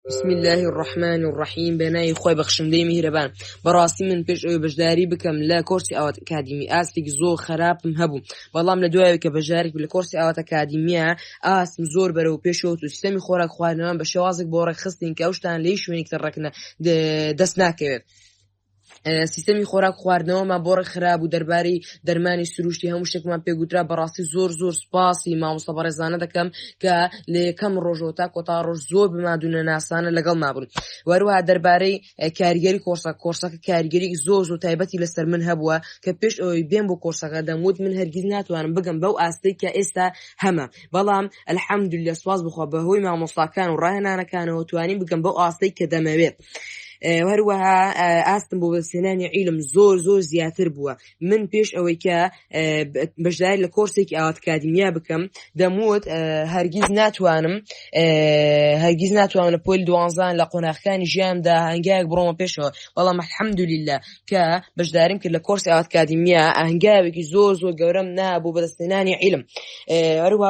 بسم الله الرحمن الرحیم بەناوی خۆی بەخشندەی میهرەبان بەڕاستی من پێش ئەوی بەشداری بکەم لە کۆرسی ئاوات ئەکادیمی ئاستێک زۆر خراپم هەبوو بەڵام لە دوایە کە بەژارێک لە کۆرسی ئاوات ئەکادیمیە ئاستم زۆر بەرەو پێشەوەت و سیستەمی خۆراک خوارنەوەم بە شێوازێک بۆ ڕێکخستین کە ئەوشتان لەی شوێنێکتە ڕەکنە دەست ناکەوێت. سیستەمی خۆراک خواردنەوەمان بۆ ڕێکخرا بوو دەرباری دەرمانی سروشتی هەموو شتێکمان پێگوترا بەڕاستی زۆر زۆر سپاسی مامۆستا بەڕێزانە دەکەم کە لە یەکەم ڕۆژەوە تا کۆتا ڕۆژ زۆر بمادونە ناسانە لەگەڵ مابوون وەروها دەربارەی کاریگەری کۆرسە کۆرسەکە کاریگەری زۆر زۆر تایبەتی لەسەر من هەبووە کە پێش ئەوەی بێن بۆ کۆرسەکە دەموت من هەرگیز ناتوانم بگەم بەو ئاستەی کە ئێستا هەمە بەڵام ئەلحەمدول لە سواز بخوا بەهۆی مامۆستاکان و ڕاهێنانەکانەوە توانین بگەم بەو ئاستەی کە دەمەوێت هەروەها ئاستم بۆ بەسێنانی عیلم زۆر زۆر زیاتر بووە من پێش ئەوەی کە بەشدار لە کۆرسێکی ئاواتکادیمیا بکەم دەموت هەرگیز ناتوانم هەرگیز ناتوانم لە پۆل دوانزان لە قۆناخەکانی ژیاندا هەنگایەک بڕۆمە پێشەوە بەڵام حەمدولیلا کە بەشداریم کرد لە کۆرسی ئاواتکادیمیا ئەهنگاوێکی زۆر زۆر گەورەم نابوو بەدەستێنانی عیلم هەروە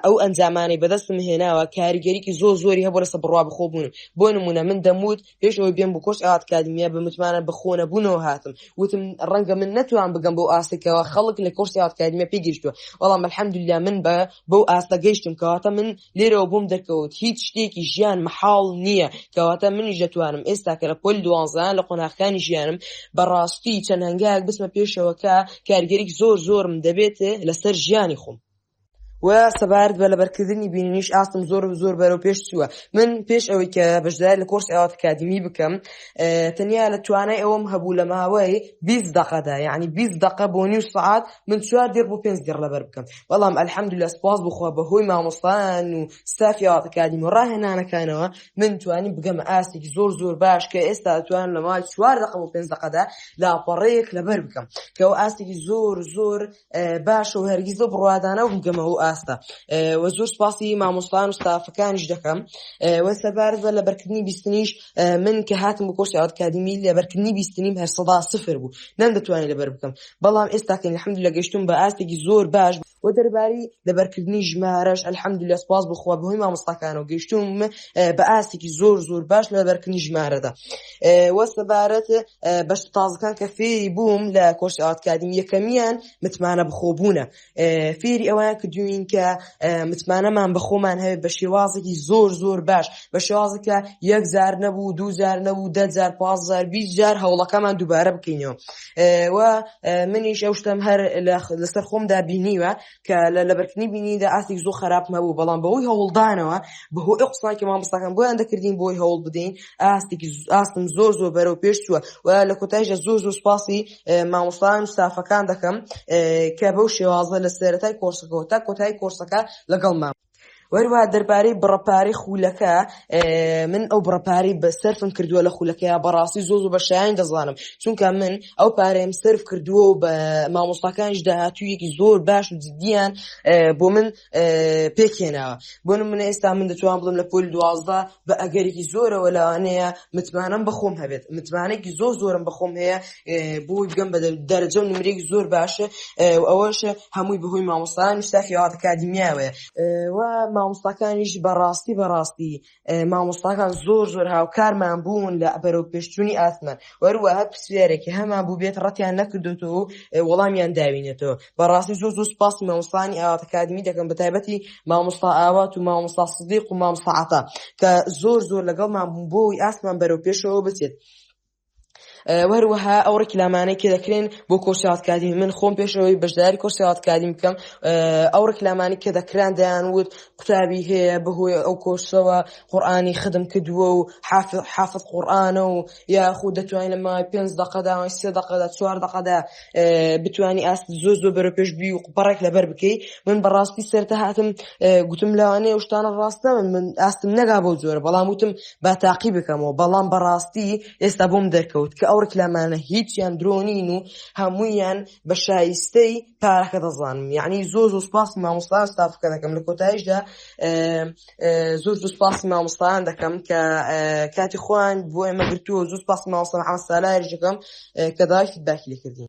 ئەو ئەنجامانی بەدەستم هێناوە کاریگەریکی زۆر زۆری هەبوو لەسە بڕوا بخۆبوون بۆ نمونە من دەموت پێش ئەوەی بێم بۆ کۆرس ئاکادمیە بە متمانە بە خۆنەبوونەوە هاتم وتم ڕەنگە من نەتوان بگەم بۆ ئاستێکەوە خەڵک لە کۆرسی ئاکادمیە پێ گەشتووە بەڵام الحەمدللا من بە بەو ئاستە گەشتم کەواتە من لێرەوە بووم دەکەوت هیچ شتێکی ژیان محاڵ نییە کەواتە منیش دەتوانم ئێستا کە لە پۆل دوانزان لە قۆناخەکانی ژیانم بەڕاستی چەند هەنگایك بسمە پێشەوەکە کارگەریک زۆر زۆرم دەبێت لەسەر ژیانی خۆم و سەبارەت بە لەبەرکردنی بینینیش ئاستم زۆر زۆر بەرەو پێش چووە من پێش ئەوەی کە بەشدار لە کۆرس ئاوات کادمی بکەم تەنیا لە توانای ئەوم هەبوو لە ماوەی 20 دقەدا یعنی 20 دقە بۆ نیو سعات من چوار دێر بۆ پێنج دێر لەبەر بکەم بەڵام ئەلحەمد لە سپاس بخوا بە هۆی مامۆستان و سافی ئاوات کادیم و ڕاهێنانەکانەوە من توانی بگەمە ئاستێکی زۆر زۆر باش کە ئێستا توان لە ماوەی چوار دقە بۆ پێنج دقەدا لاپەڕەیەک لەبەر بکەم کە ئەو ئاستێکی زۆر زۆر باشە و هەرگیز بە بڕوادانە بگەمە ئەو ئاستە وە زۆر سپاسی مامۆستان و ستافەکانیش دەکەم وە سەبارزە لە بەرکردنی بیستنیش من کە هاتم بۆ کۆرسی ئەوتکادیمی لە بەرکردنی بیستنیم هەر سەدا سفر بوو نەم دەتوانانی لەبەر بکەم بەڵام ئێستاکەین حمد لە گەشتم بە ئاستێکی زۆر باش و دەرباری لەبەرکردنی ژمارەش ئەلحەمد لە سپاس بخوا بەهۆی مامۆستاکان و گەشتوم بە ئاستێکی زۆر زۆر باش لە بەرکردنی ژمارەدا وە سەبارەت بەش تازەکان کە فێری بووم لە کۆش ئاواتکاریم یەکەمیان متمانە بخۆبوونە فێری ئەوەیان کردوین کە متمانەمان بەخۆمان هەیە بە شێوازێکی زۆر زۆر باش بە شێوازەکە یەک زار نەبوو دوو زار نەبوو دە زار پازار بی زار هەوڵەکەمان دووبارە بکەینەوە و منیش ئەو شتم هەر لەسەر خۆمدا بینیوە کە لە لەبەرکردنی بینیدا ئاستی زۆ خراپم هەبوو بەڵام بەوەی هەوڵدانەوە بە هۆی قسانکە مامۆستاکان بۆیان دەکردین بۆی هەوڵ بدەین ئاستێکی ئاستم زۆر زۆر بەرەو پێش چووە و لە کۆتایشە زۆر زۆر سپاسی مامۆستان سافەکان دەکەم کە بەو شێوازە لە سێرەتای کۆرسەکەەوە تا کۆتایی کۆرسەکە لەگەڵ مام وەروە دەربارەی بڕەپارەی خولەکە من ئەو بڕەپارەی بە سەرفم کردووە لە خولەکەی بەڕاستی زۆ زۆ بە شایان دەزانم چونکە من ئەو پارەیەم سرف کردووە و بە مامۆستاکانش داهاتوویەکی زۆر باش و جدیان بۆ من پێکێناوە بۆ منە ئێستا من دەتوان بڵم لە پۆل دوازدە بە ئەگەرێکی زۆرەوە لەوانەیە متمانەم بەخۆم هەبێت متمانێکی زۆر زۆرم بەخۆم هەیە بۆی بگەم بە دەرەجە و نمرێک زۆر باشە و ئەوەش هەمووی بەهۆی مامۆستان شتاخیات کادیمیاوەیە و مامۆستاکانیش بەڕاستی بەڕاستی مامۆستاکان زۆر زۆر هاوکارمان بوون لە بەرەو پێشچووی ئاسمان وەروەها پرسیارێکی هەمان بوو بێت ڕەتیان نەکردوێتەوە وەڵامیان داوینێتەوە بەڕاستی زۆر زۆر سپاسی مامۆستانی ئاوات ئەکادمی دەکەم بە تایبەتی مامۆستا ئاوات و مامۆستا سدیق و مامۆستا عەتا کە زۆر زۆر لەگەڵمان بوون بۆ ئەوی ئاستمان بەرەو پێشەوە بچێت وەروەها ئەو ڕکلامانەی کە دەکرێن بۆ کۆرسات کادیم من خۆم پێشەوەی بەشداری کۆرسات کادیم بکەم ئەو ڕکلامانی کە دەکران دەیان وت قوتابی هەیە بەهۆی ئەو کۆرسەوە قورآانی خدم کردووە و حافظ قورآانە و یاخود دەتوانانی لە ماوەی پێنج دەقەدا ماوەی سێ دەقەدا چوار دەقەدا بتانی ئاست زۆر زۆر بەرە پێش بی و بەڕێک لەبەر بکەی من بەڕاستی سەرتە هاتم گوتم لەوانەیە شتانە ڕاستە من من ئاستم نەگا بۆ زۆرە بەڵام وتم با تاقی بکەمەوە بەڵام بەڕاستی ئێستا بۆم دەرکەوت کە ئەو ڕکلامانە هیچیان درۆنین و هەموویان بە شایستەی کارەکە دەزانم یعنی زۆر زۆر سپاس مامۆستان ستافەکە دەکەم لە کۆتایشدا زۆر زۆر سپاس مامۆستان دەکەم کە کاتی خۆیان بۆ ئێمە گرتووە زۆر سپاس ماوەسەر ئاسالایش دەکەم کە داوای فیدباکی لێکردین